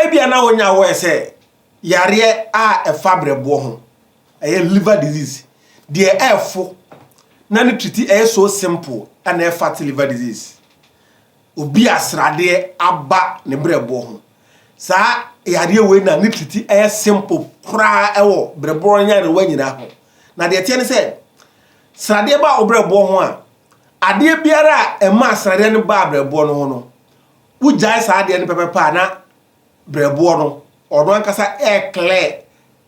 Ebia na onya aware sɛ yareɛ a ɛfa berɛboɔ ho, ɛyɛ liver disease, deɛ ɛrefo na ne treati ɛyɛ so simple ɛna ɛfat liver disease. Obi a sradeɛ aba ne berɛboɔ ho, saa yareɛ wei na ne treati ɛyɛ simple koraa ɛwɔ berɛboɔ nyarewa nyinaa ho. Na deɛ ɛteɛ ne sɛ, sradeɛ ba wo berɛboɔ ho a, adeɛ biara a ɛma sradeɛ no baa berɛboɔ no ho no, Wogyae saa adeɛ no pɛpɛpɛ a na berɛboɔ no, ɔno ankasa ɛreklɛ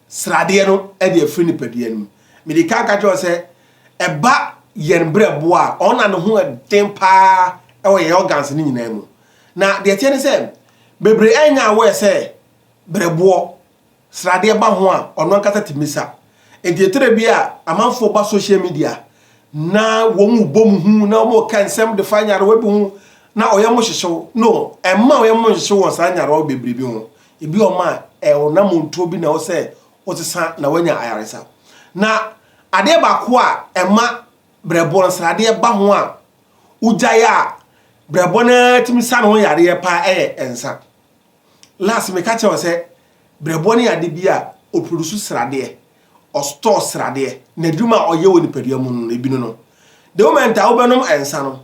sradeɛ no de afiri nipadua no mu. Mede kan ka kyerɛ wo sɛ, ɛba yɛn berɛboɔ a, ɔno na ne ho den paa wɔ yɛn organs no nyinaa mu. Na deɛ ɛteɛ ne sɛ, bebree ɛnyɛ aware sɛ berɛboɔ sradeɛ ba ho a, ɔno ankasa tumi sa. Enti ɛtire bi a, amanfoɔ ba social media na wɔn bɔ mu hu na wɔn ka nsɛm de fa nyarewa bi ho na ɔyɛ mo hyehyew. No, ɛmma ɔyɛ mo nhyehyew wɔ saa nyarewa bebree bi ho. Ebi wɔ ma ɛwona montuo bi na ɛwɔ sɛ wosesa na wanya ayaresa. Na adeɛ baako a ɛma brɛboɔ nsradeɛ ba ho a wogyae a brɛboɔ no ara tumi sa ne ho yareɛ paa ɛyɛ nsa. Last meka kyerɛ wo sɛ brɛboɔ no yɛ adeɛ bi a ɔ produce sradeɛ, ɔ store sradeɛ, n'adwuma a ɔyɛ wɔ nipadua mu no ebi no no. The moment a wobɛnom nsa no,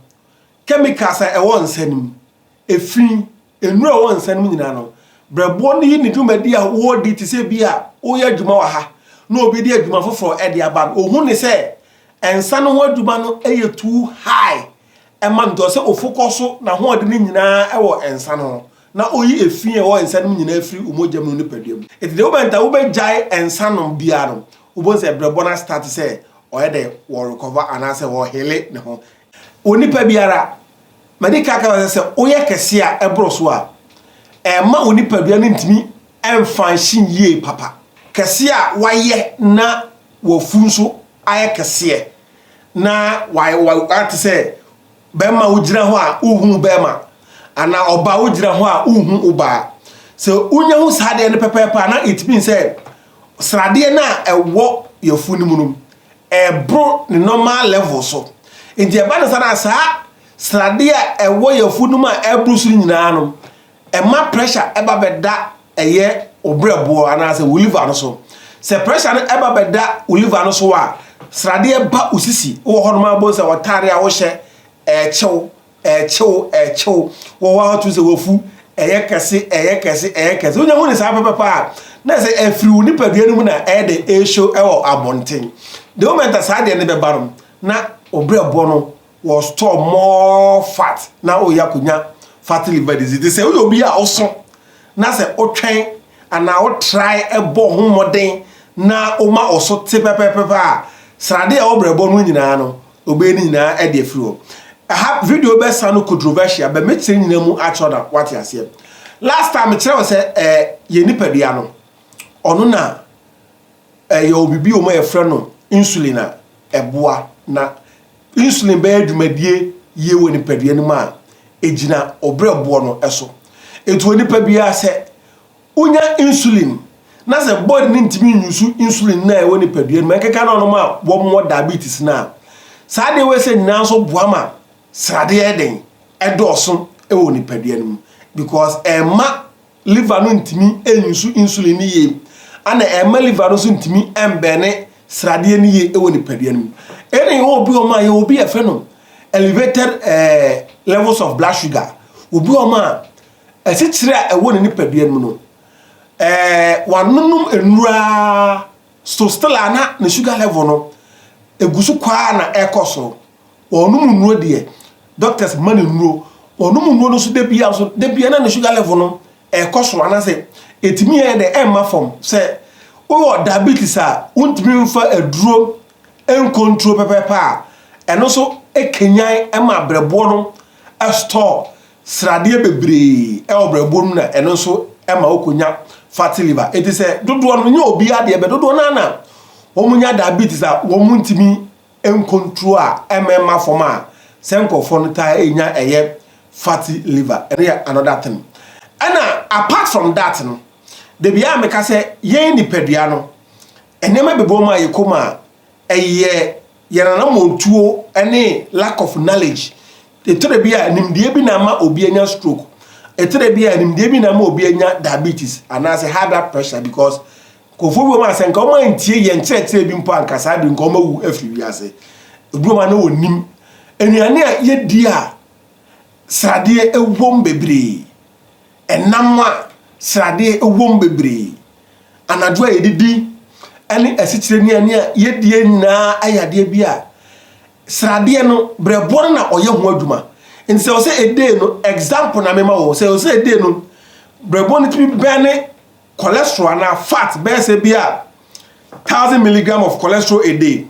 chemicals a ɛwɔ nsa no mu, efi, nnuro a ɛwɔ nsa no mu nyinaa no, brɛboɔ no yi ne dwumadi a wɔredi te sɛ bi a woyɛ adwuma wɔ ha na obi de adwuma foforɔ de aba no, ɔhu ne sɛ nsa no ho adwuma no yɛ too high ɛma no nti ɔsɛ ofokɔ so n'ahoɔden no nyinaa wɔ nsa no ho. na oyi efi a ɔwɔ nsa no mu nyinaa firi wo mogya mu ne wo nipadua mu. Enti the moment a wobɛgyae nsa nom biara no, wobɛhu sɛ brɛbɔ no astate sɛ ɔyɛ dɛ, ɔrekɔva anaasɛ ɔrehele ne ho. Onipa biara, madi kan aka wo sɛ sɛ woyɛ kɛse a ɛboro so a, ɛmma wo nipadua no ntumi mfunction yie papa. Kɛse a woayɛ na w'afu nso ayɛ kɛseɛ na wayɛ te sɛ Bɛrima wogyina hɔ a wohu wo bɛrima anaa ɔbaa wogyina hɔ a wohu wo baa. Sɛ wonya hu saa adeɛ no pɛpɛɛpɛ a na it means sɛ sradeɛ no a ɛwɔ yɛfu no mu no ɛboro ne normal level so. Nti ɛba no saa no a saa sradeɛ a ɛwɔ yɛfu no mu a ɛboro so no nyinaa no Ɛma pressure ba bɛda ɛyɛ wo berɛboɔ anaasɛ wo liver no so. Sɛ pressure no ba bɛda wo liver no so a, sradeɛ ba wo sisi. Wowɔ hɔnom a wobɛhu sɛ w'atadeɛ a wohyɛ ɛrekye wo, ɛrekye wo, ɛrekye wo. Wowɔ hɔ a wotu sɛ w'afu ɛyɛ kɛse, ɛyɛ kɛse, ɛyɛ kɛse. Wonya hu ne saa pɛpɛpɛ a, na sɛ ɛfiri wo nipadua no mu na ɛyɛ dɛ ɛreshow wɔ abɔnten. The moment a saa adeɛ no bɛba no, na wo berɛboɔ no Wɔ store more fat na ɔreyɛ akɔnya fatty liver disease te sɛ woyɛ obi a woso na sɛ wotwɛn anaa wo try bɔ wo ho mmɔden na woma wo so te pɛpɛpɛpɛ a srade a ɛwɔ brɛbɔ no nyinaa no ɔbɛyɛ ne nyinaa ɛde afiri hɔ. Ɛha video bɛ sa no controversial bɛ mɛkyerɛ nyinaa mu akyerɛ na wate aseɛ. Last time mekyerɛ wo sɛ eh, yɛ nipadua no ɔno na Yɛwɔ biribi wɔ mu a yɛfrɛ no insulin a ɛboa na insulin bɛyɛ dwumadie yie wɔ nipadua no mu a, ɛgyina ɔbrɛboɔ no so. Ɛti onipa biara sɛ wonya insulin na sɛ body no ntumi nyusu insulin no a ɛwɔ nipadua no mu, ɛkeka no ɔnom a wɔmmɔ diabetes no a, saa adeɛ wei sɛ nyinaa nso boa ma sradeɛ den ɛdɔɔso wɔ nipadua no mu because ɛma liver no ntumi nsu insulin no yie, ɛna ɛmma liver no nso ntumi mbɛne sradeɛ no yie wɔ nipadua no mu. Ɛna yɛwɔ obi wɔn a yɛwɔ obi a yɛfrɛ no elevated eh, levels of blood sugar. Obi wɔn a ɛkyekyere a ɛwɔ ne nipadua no mu no, eh, wanonom nnura so still a na ne sugar level no ɛgu so kwaa na ɛkɔ soro. Ɔnnom nnuro deɛ, doctors ma no nnuro, ɔnom nnuro no nso da biara nso, da biara na ne sugar level no ɛrekɔ soro anaasɛ ɛtumi yɛ dɛ ɛmma fam. Sɛ wowɔ diabetes a wontumi mfa aduro nkontro pɛpɛɛpɛ a, ɛno nso ɛkanyan ɛma abrɛboɔ no ɛstɔɔ sradeɛ bebree ɛwɔ brɛboɔ no mu na ɛno nso ɛma wokɔnya fatty liver. Ɛti sɛ dodoɔ no, nyɛ obiara deɛ, bɛ dodoɔ no ara na wɔn nya diabetes a wɔn ntumi Nkontroo a ɛmma fam a sɛ nkurɔfoɔ no taa nya ɛyɛ fatty liver, ɛno yɛ another thing. Ɛna apart from that no, dabi a meka sɛ yɛn nipadua no, nneɛma bɛbɔ mu a yɛkɔ mu a, ɛyɛ yɛn anammɔntuo ne lack of knowledge. Ɛtɔ da bi a nimdeɛ bi na ama obi anya stroke, ɛtɔ da bi a nimdeɛ bi na ama obi anya diabetes anaasɛ high blood pressure because Nkurɔfoɔ bi wɔ hɔ a, sɛ nka wɔantie yɛn nkyerɛkyerɛ bi mpo a, nka saa bere nka wɔawu afiri wiase. Ebi wɔ hɔ a, na wɔnim nnuane a yɛdi a sradeɛ wom bebree, ɛnam a sradeɛ wom bebree, anadwo a yɛdidi ne asikyire nnuane a yɛdie nyinaa yɛ adeɛ bi a sradeɛ no berɛboɔ no na ɔyɛ ho adwuma. Nti sɛ ɔsɛ edee no, example na mema wɔ, sɛ ɔsɛ edee no, berɛboɔ no tumi bɛn ne cholesterol anaa fat bɛyɛ sɛ bi a thousand milligram of cholesterol a day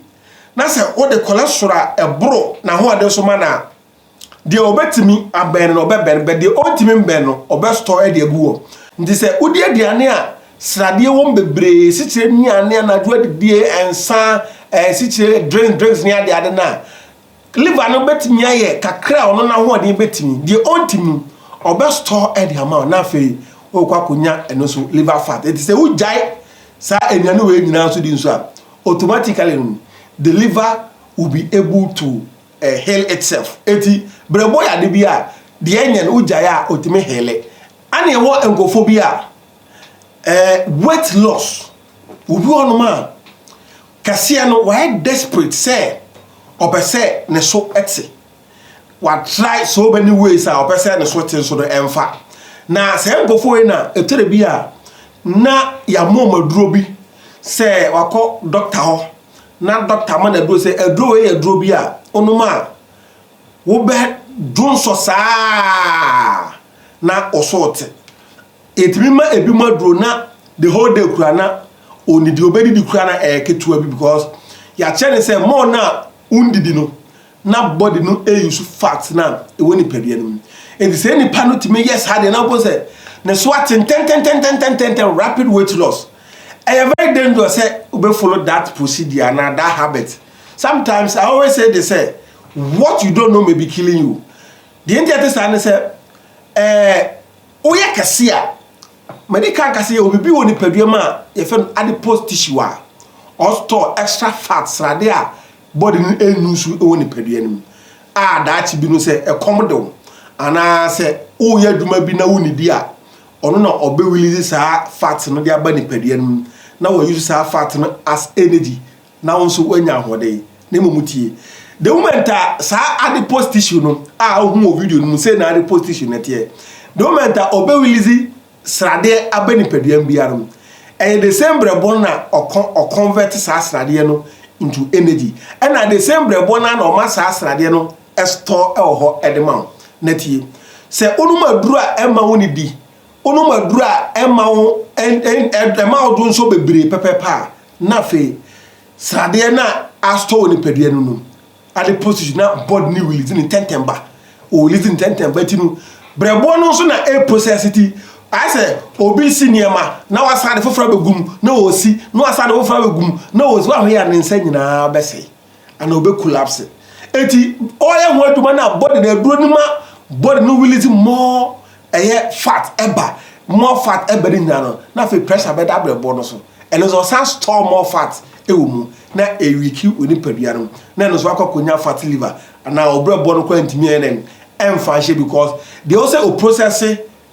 na sɛ wode cholesterol a ɛboro n'ahoɔden so ma no a deɛ ɔbɛtumi abɛn no ɔbɛbɛn bɛ deɛ ɔntumi mbɛn no ɔbɛstɔ ɛde agu hɔ nti sɛ wodi aduane a sradeɛ wɔm bebree sikyire nnuane anadwo adidie nsa ɛsikyire drinks drinks ne ade ade no a Liver no bɛtumi ayɛ kakra a ɔno n'ahoɔden bɛtumi, deɛ ɔnti mu, ɔbɛ store de ama wo na afei wokɔ akɔnya ɛno nso liver fat. Ɛti sɛ wogyae saa aduane wei nyinaa nso di nso a, automatically no, the liver will be able to uh, heal itself. Ɛti brɛbɔ yɛ ade bi a, deɛ ɛnyɛ no wogyae a ɔtumi heale. Ɛne ɛwɔ nkɔfo bi a, uh, weight loss, obi ɔnom a, Kɛseɛ no wayɛ desperate sɛ ɔpɛ sɛ ne so te. Wa try so many ways a ɔpɛ sɛ ne so te nso no ɛnfa. Na saa nkurɔfoɔ wei na ɛtɔ da bi a na yɛama wɔn aduro bi sɛ wakɔ doctor hɔ na doctor ama no aduro sɛ aduro wei yɛ aduro bi a wonom a wobɛ donsɔ saa na wo so te. Ɛtumi ma ɛbinom aduro na the whole day kura na ɔnni deɛ ɔbɛdidi kura na ɛyɛ ketewa bi because yɛakyɛ ne sɛ more no a wondidi no na body no ɛyusu fat na ɛwɔ nipadua no mu ɛnti sɛ nipa no tumi yɛ saa deɛ na wobɛhu sɛ ne so ate ntɛntɛntɛntɛntɛntɛntɛn rapid weight loss ɛyɛ very dangerous sɛ wobɛfollow that procedure anaa that habit sometimes I always say this sɛ what you don't know may be killing you deɛ nti ɛte saa ne sɛ ɛɛ Woyɛ kɛse a, madi kan aka sɛ yɛwɔ biribi wɔ nipadua mu a yɛfrɛ no adipose tissue a ɔstore extra fat, srade a body no nnu so wɔ nipadua no mu a daakye bi no sɛ ɛkɔm de wo anaa sɛ woyɛ adwuma bi na wonnidi a, ɔno na ɔbɛwilizi saa fat no de aba nipadua no mu na wɔayusu saa fat no as energy. na wo nso woanya ahoɔden na mmom tie. The moment a saa adipose tissue no a wohu wɔ video no mu sɛ na adipose tissue no teɛ, the moment a ɔbɛ release sradeɛ aba nipaduam biara mu, ɛyɛ the same brɛbɔ na ɔconvert saa sradeɛ no into energy, ɛna the same brɛbɔ no na ɔma saa sradeɛ no store ɛwɔ hɔ ɛde ma wo. Na tie, sɛ wonom aduru a ɛma wo ne di, wonom aduru a ɛma wo ɛma wo do nso bebree pɛpɛpɛ a, Na afei sradeɛ no a asotɔ wɔ nipadua no nom ade postage na board ne wilidzi ne ntɛntɛn ba wɔ wilidzi ntɛntɛn ba ti no brɛboɔ no nso na ɛreprosɛse ti ayɛ sɛ obi si nneɛma na wasan de foforɔ abɛgu mu na ɔsi na wasan de foforɔ abɛgu mu na ɔsi waho yɛ a ne nsa nyinaa bɛsɛe ana obe collapse eti ɔyɛ ho adwuma na body na aduro no ma body no release more ɛyɛ fat ɛba more fat ɛba ne nyinaa no na afei pressure bɛda abrɛboɔ no so ɛno nso ɔsan store more fat ɛwɔ mu na ɛwiki wɔ nipadua no na ɛno nso akɔ akɔnya fat liver anaa ɔbrɛboɔ no kora ntumi ɛnɛ ɛmfa nhyɛ because deɛ ɔsɛ o process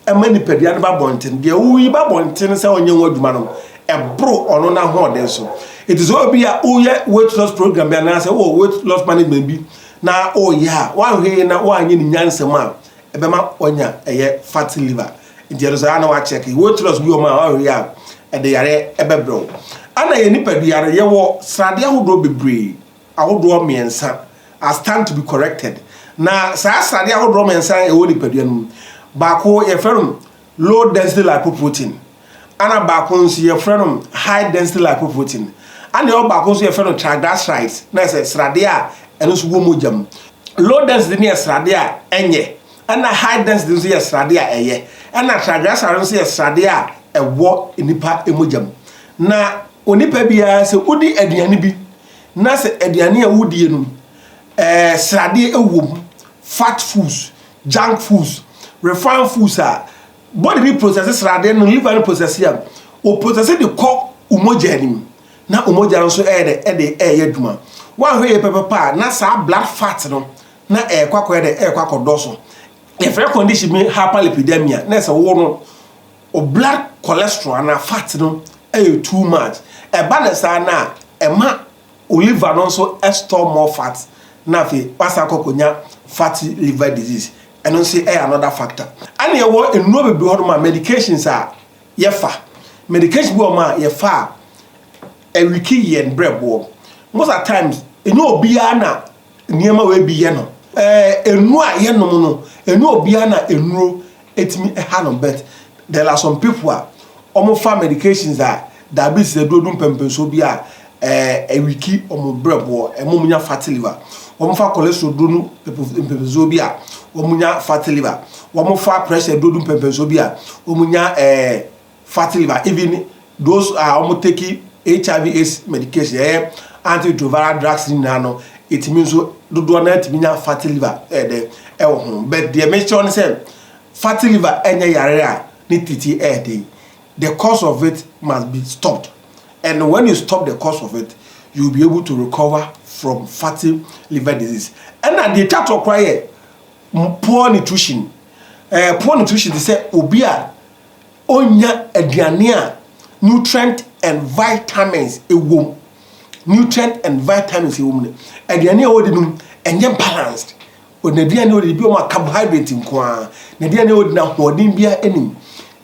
ɛma nipadua no ba abɔnten. Deɛ woyi ba abɔnten sɛ ɔnyɛ ho adwuma no, ɛboro ɔno n'ahoɔden so. Ɛti sɛ obi a woyɛ weight loss program bi anaasɛ wowɔ weight loss management bi na woyɛ a woanhwee na woanyɛ ne nyansam a ɛbɛma wanya ɛyɛ fat liver. Nti ɛno saa na woakyɛke weight loss bi wɔ mu a woanhwee a ɛde yareɛ ɛbɛbrɛ wo. Ana yɛ nipadua no yɛwɔ sradeɛ ahodoɔ bebree. ahodoɔ mmiɛnsa are stand to be corrected. Na saa sradeɛ ahodoɔ mmiɛnsa a ɛwɔ nipadua no mu, baako yɛfrɛ no low density lipoprotein, ɛna baako nso yɛfrɛ no high density lipoprotein, ɛna ɛwɔ baako nso yɛfrɛ no triglycerides, na ɛsɛ sradeɛ a ɛno nso wɔ mogya mu. Low density no yɛ sradeɛ a ɛnyɛ, ɛna high density nso yɛ sradeɛ a ɛyɛ, ɛna triglyceride nso yɛ sradeɛ a ɛwɔ nipa mogya mu. Na onipa biara sɛ wodi aduane bi Na sɛ aduane a wodie no ɛɛ sradeɛ ɛwɔ mu, fat foods, junk foods, refined foods a, body no process sradeɛ no, liver no process a, o process de kɔ wo mogya no mu, na wo mogya no nso ɛyɛ dɛ ɛde ɛyɛ adwuma. Woanhwɛ yɛ pɛpɛpɛ a, na saa blood fat no na ɛrekɔ akɔyɛ dɛ ɛrekɔ akɔdɔso. Yɛfrɛ condition bi hyperlipidemia, na ɛsɛ wo no. O blood cholesterol anaa fat no yɛ too much, ɛba no saa no a ɛma o liver no nso store more fat na afei wasan akɔ akɔnya fatty liver disease, ɛno nso yɛ another factor. Ɛna yɛwɔ nnuro bebree hɔ nom a medications a yɛfa, medication bi wɔ hɔ nom a yɛfa a ɛwiki yɛn brɛboɔ, most at times ɛnyɛ obiara na. Nneɛma wei bi yɛ no. Eh, nnuro a yɛnom no, ɛnyɛ obiara na nnuro ɛtumi ɛha no but there are some people a wɔfa medications a diabetes aduro du mpɛmpɛnsoɔ bi a eh, ɛwiki wɔn brɛboɔ, ɛma wɔn nya fatty liver. Wɔfa cholesterol duro no mpɛmpɛnsoɔ bi a wɔn nya fatty liver. Wɔfa pressure duro du mpɛmpɛnsoɔ bi a wɔn nya eh, fat liver even those a wɔn take hiv aids medication ɛyɛ antiretroviral drugs ne nyinaa no ɛtumi nso dodoɔ no atumi nya fat liver ɛyɛ dɛ ɛwɔ ho but deɛ mekyerɛ no sɛ fat liver ɛnyɛ yare a ne titi ɛyɛ dɛ the cause of it must be stopped and when you stop the cause of it you will be able to recover from fatty liver disease ɛna deɛ ɛtwa toɔ koraa yɛ poor nutrition ɛɛ eh, poor nutrition te sɛ obi a ɔnnya aduane a nutrient and vitamins wɔ mu. Nutrient and vitamins wɔ mu no, aduane a ɔdi no ɛnyɛ balanced. N'aduane a ɔdi bi wɔn carbohydrate nko ara. N'aduane a ɔdi no ahoɔden biara nni mu.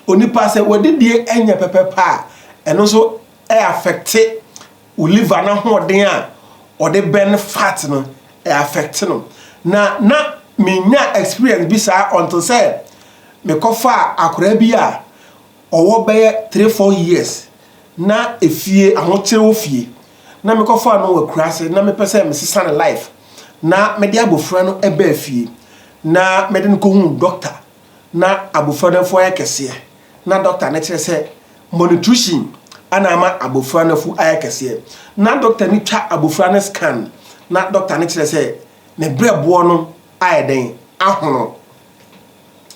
Onipa sɛ ɔdidie nyɛ pɛpɛpɛ a, ɛno nso affect Wo liver no ahoɔden a ɔde burn fat no ɛ affect no na na me nya experience bi saa until sɛ me kɔ fa akwadaa bi a ɔwɔ bɛyɛ three four years na efie ahokyere wɔ fie na me kɔ fa no wɔ akuraase na me pɛ sɛ me sesa ne life na me de abɔfra no ɛbɛ fie na me de no kɔ hu doctor na abofra no afu ayɛ kɛseɛ, na dɔkta no kyerɛ sɛ malnutrition na ama abofra no afu ayɛ kɛseɛ, na dɔkta no twa abofra no scan, na dɔkta no kyerɛ sɛ ne berɛboɔ no ayɛ dɛn? Ahono.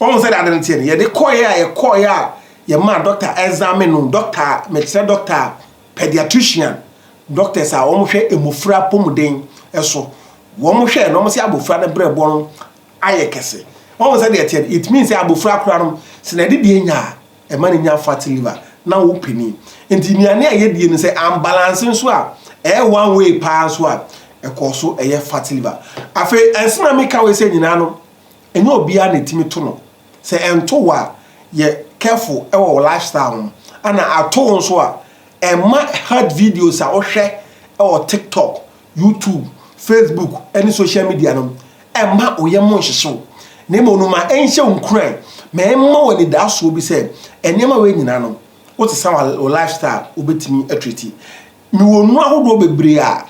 Wɔn sɛ de ade no teɛ no, yɛde kɔeɛ a yɛkɔeɛ a yɛmaa dɔkta examine no, dɔkta a mekyerɛ dɔkta pediatrician, doctors a wɔhwɛ mmofra apɔmuden so, wɔhwɛ na wɔn sɛ abofra no berɛboɔ no ayɛ kɛse. Wahu sɛdeɛ ɛteɛ no, it means sɛ abɔfra koraa no, sɛ nade die nya a, ɛma no nya fatty liver, na wo panin. Nti nnuane a yɛdie no sɛ ambalanse nso a, ɛyɛ one way paa nso a, ɛkɔɔ so ɛyɛ fatty liver. Afei ɛnso na meka wei sɛ nyinaa no, ɛnyɛ obiara na ɛtumi to no. Sɛ ɛnto wo a, yɛ careful wɔ wo lifestyle ho. Ana ato wo nso a, ɛmma health videos a wohwɛ wɔ TikTok, YouTube, Facebook ne social media no, mma wo yam nhyehye wo, na mmom no ma ɛnhyɛ wo nkuran, ma ɛmma wo anidasoɔ bi sɛ nneɛma wei nyinaa no, wosesa wo lifestyle, wobɛtumi atriti. Mewɔ nnuro ahodoɔ bebree a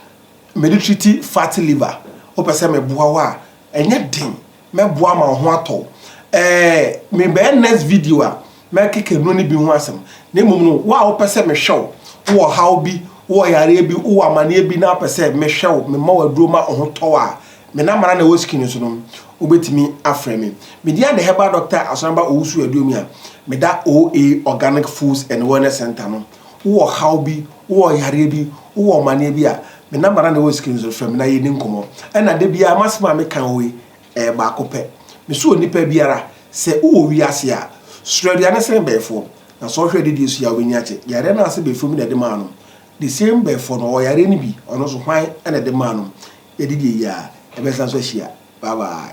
mede triti fatty liver, wopɛ sɛ meboa wo a, ɛnyɛ den Mɛboa ma wo ho atɔ wo. Ɛɛ, merebɛyɛ next video a, mɛkeka nnuro no bi ho asɛm. Na mmom no, wo a wopɛ sɛ mehwɛ wo, wowɔ ɔhaw bi, wowɔ yareɛ bi, wowɔ amaneɛ bi na wopɛ sɛ mehwɛ wo, mema wo aduro ma wo ho tɔ wo a, me number no ara na ɛwɔ screen no so no, wobɛtumi afrɛ me. Me din ara ne Herbal Doctor Asɔremba Owusu Aduomia. Meda OA Organic Foods and Wellness Centre no. wowɔ ɔhaw bi, wowɔ yareɛ bi, wowɔ ɔmaneɛ bi a, me number na na ɛwɔ screen no so no, frɛ me na yɛdi nkɔmmɔ. Ɛna da biara m'asɛm a meka wɔ hɔ yi, ɛyɛ baako pɛ. Mesɛ onipa biara, sɛ wowɔ wiase a, suro aduane sene bɛɛfoɔ. Na sɛ wohwɛ adidie so yi a, wobɛni agye. Yareɛ no ara sɛ bɛɛfoɔ bi na ɛde maa no. The same bɛɛfoɔ no, ɔwɔ yareɛ no bi, ɔno nso hwan na ɛde maa no. Yɛadi deɛ yie a, yɛbɛsan nso ahyia. Bye bye.